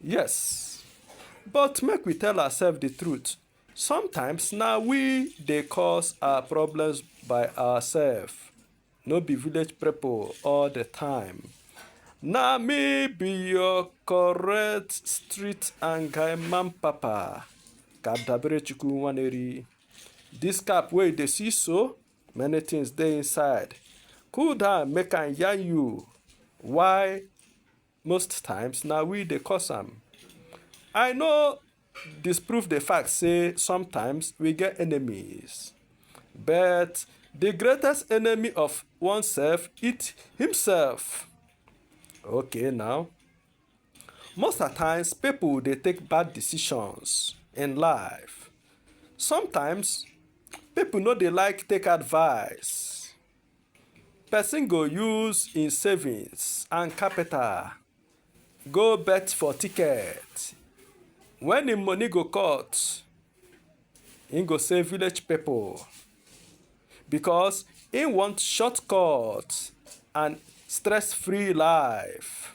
Yes, but make we tell ourselves the truth. Sometimes na we dey cause our problems by ourselves, no be village people all the time. Na me be your correct street and guy man papa, Kadabere Chukwu Nwaneri. This cap wey you dey see so, many things dey inside. Cool down make I yarn you why Most times, na we dey cause am. I no disprove the fact say sometimes we get enemies. But the greatest enemy of oneself is himself. Okay now. Most of times people dey take bad decisions in life. Sometimes people no dey like take advice. Person go use im savings and capital go bet for ticket. When im money go cut, im go say village people because im want shortcut and stress-free life.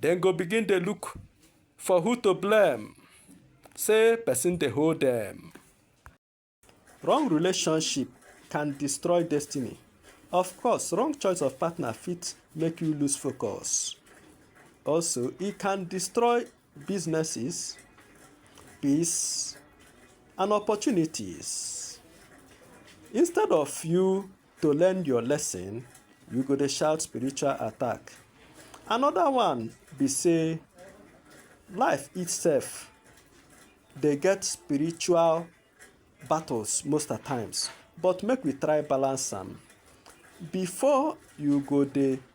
Dem go begin dey look for who to blame, say person dey hold dem. Wrong relationship can destroy destiny. Of course, wrong choice of partner fit make you lose focus. Also, e can destroy businesses, peace, and opportunities. Instead of you To learn your lesson, you go dey shout spiritual attack. Another one be say life itself dey get spiritual battles most at times, but make we try balance am. Before you go dey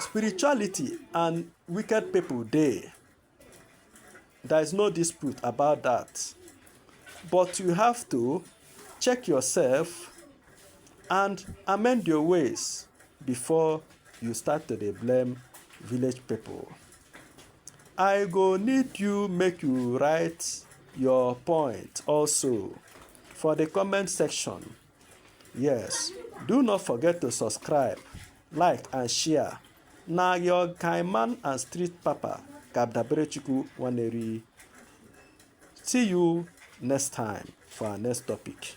Spirituality and wicked people dey. There is no dispute about that. But you have to check yourself and amend your ways before you start to dey blame village people. I go need you make you write your point also for the comment section Yes, do not forget to subscribe, like and share. Na your kind man and street papa, Kabdaberechukwu Waneri. See you next time for our next topic.